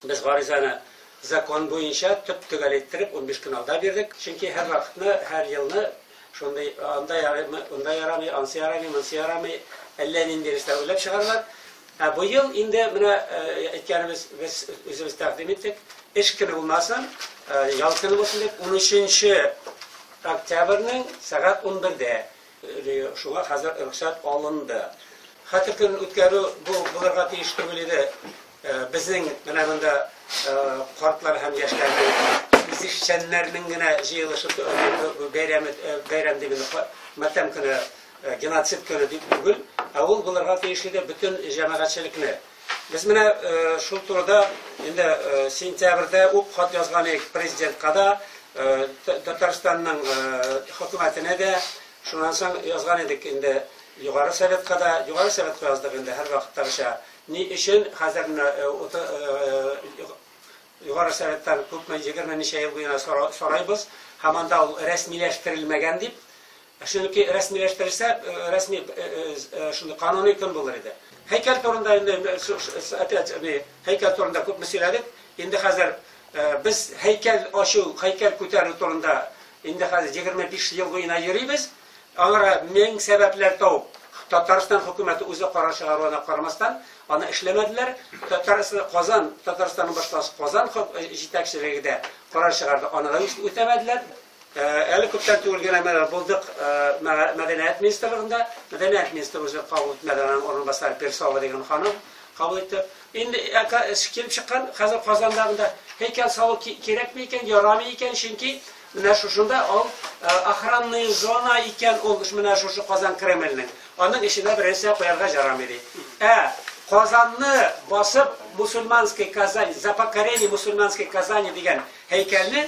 Без гаризаны закон буенча төп-төгәл иттереп унбиш көн алда бирдек, чөнки һәр вакытны, һәр елны шундый анда ярыймы, унда ярамый, ансы ярамый, монсы ярамый, әллә нинди рәвештә уйлап чыгаралар. Ә бу ел инде менә әйткәнебез без үзебез тәкъдим иттек, эш көне булмасын, ял көне булсын дип, унөченче октябрьнең сәгать унбердә. Шуңа хәзер рөхсәт алынды. Хәтер көнен үткәрү бу булырга тиеш түгел иде. Безнең менә монда картлар һәм яшьләрнең, үзешчәннәрнең генә җыелышып бәйрәме, бәйрәм дигәндә матәм көне, геноцид көне дип түгел, ә ул булырга тиеш иде бөтен җәмәгатьчелекне. Без менә шул турыда инде сентябрьдә үк хат язган идек Президентка да, Татарстанның хөкүмәтенә дә. Шуннан соң язган идек инде Югары Советка да. Югары Советка яздык инде һәрвакыттагыча. Ни өчен хәзер менә Югары Советтан күпме, егерме ничә ел буена сорыйбыз, һаман да ул рәсмиләштерелмәгән дип. Чөнки рәсмиләштерелсә, рәсми шундый кануни көн булыр иде. Һәйкәл турында инде опять һәйкәл турында күпме сөйләдек. Инде хәзер без һәйкәл ачу, һәйкәл күтәрү турында инде хәзер 25 ел буена йөрибез. Аңара мең сәбәпләр табып, Татарстан хөкүмәте үзе карар чыгаруына карамастан, аны эшләмәделәр. Татарстан Казан, Татарстанның башкаласы Казан җитәкчелеге дә карар чыгарды, аны да үтәмәделәр. Әле күптән түгел генә менә булдык мәдәният министрлыгында. Мәдәният министры үзе кабул итмәде, аның урынбасары Персова дигән ханым кабул итте. Инде килеп чыккан хәзер Казанда монда һәйкәл салу кирәкме икән, ярамый икән, чөнки менә шушында ул охранный зона икән ул менә шушы Казан Кремленең. Аның эченә беренче куярга ярамый ди. Ә Казанны басып мусульманский Казань, за покорение мусульманской Казани дигән һәйкәлне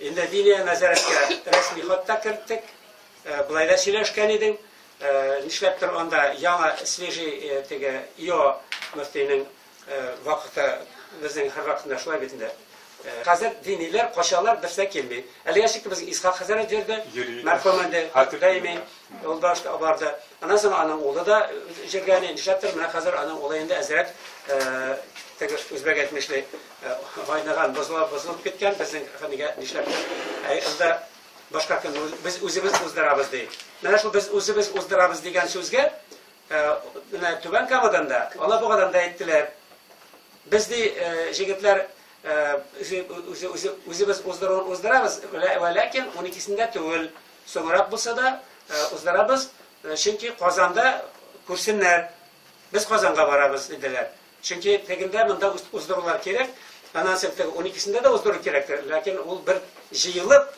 Инде Лилия нәзарәткә рәсми хат та керттек. Болай да сөйләшкән идең. Нишләптер анда яңа свежий теге ИО мөфтинең вакыты безнең һәр вакытында шулай бит инде. Хәзер диниләр качалар, берсе килми. Әлегә чикле безнең Исхак хәзрәт йөрде, мәрхүм инде, даими ул башта барды. Аннан соң аның улы да җиргәли, нишләптер менә хәзер аның улы инде әзрәк теге үзбәк әйтмешли. Гайнаган, бозылып, бозылып киткән безнең хәнигә нишләп? Ә анда башка кем без үзебез уздырабыз ди. Менә шул без үзебез уздырабыз дигән сүзгә менә Түбән Камадан да, Алабугадан да әйттеләр. Без ди җегетләр үзебез уздыру уздырабыз, ләкин 12-сендә түгел, соңрак булса да уздырабыз, чөнки Казанда күрсеннәр. Без Казанга барабыз диделәр. Чөнки тегендә монда уздырулар кирәк, аннан соң теге уникесендә дә уздыру кирәктер, ләкин ул бер җыелып,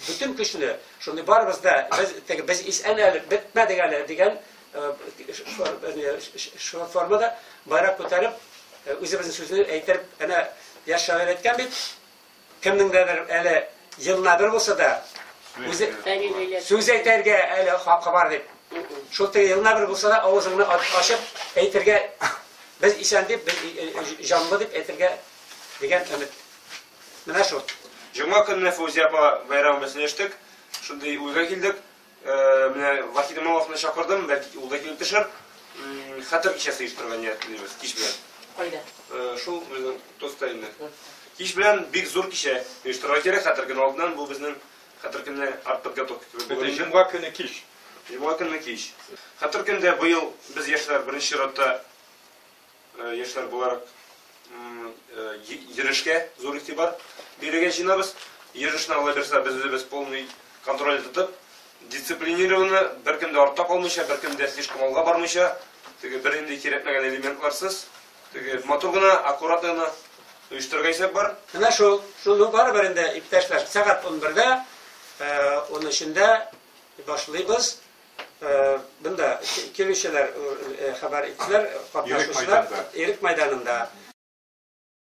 бөтен көчне, шундый барыбыз да, без, теге, без исән әле, бетмәдек әле дигән шул формада байрак күтәреп, үзебезнең сүзне әйтеп, әнә яшь шагыйрь әйткән бит, Кемнеңдәдер әле елына бер булса да, үзе сүз әйтергә әле хакы бар дип. Шул теге елына бер булса да, авызыңны ачып әйтергә, без исән дип, без э, э, э, җанлы дип әйтергә дигән өмет. Менә шул. Җомга көнне Фузия апа бәйрәмебезне эштек. Шундый уйга килдек. Менә Вахид Имамовны чакырдым, бәлки ул да килеп төшер. Хәтер кичәсе оештырырга ниятлибез кич белән. Кайда? Шул безнең тоста инде. Кич белән бик зур кичә оештырырга кирәк, хәтер көне алдыннан бу безнең хәтер көне арт подготовка. Бөтен җомга көне кич. Җомга көне кич. Хәтер көндә быел без яшьләр беренче чиратта Яшьләр буларак йөрешкә зур игътибар бирергә җыенабыз. Йөрешне Алла бирса, без үзебез полный контроль тотып, дисциплинированно, беркем дә артта калмыйча, беркем дә слишком алга бармыйча, теге бер инде кирәкмәгән элементларсыз, теге матур гына, аккуратно гына оештырырга исәп бар. Менә шул, шуны барыбер инде, иптәшләр, сәгать 11-дә, 13-дә башлыйбыз. Бында килүчеләр хәбәр иттеләр, катнашучылар Ирек мәйданында.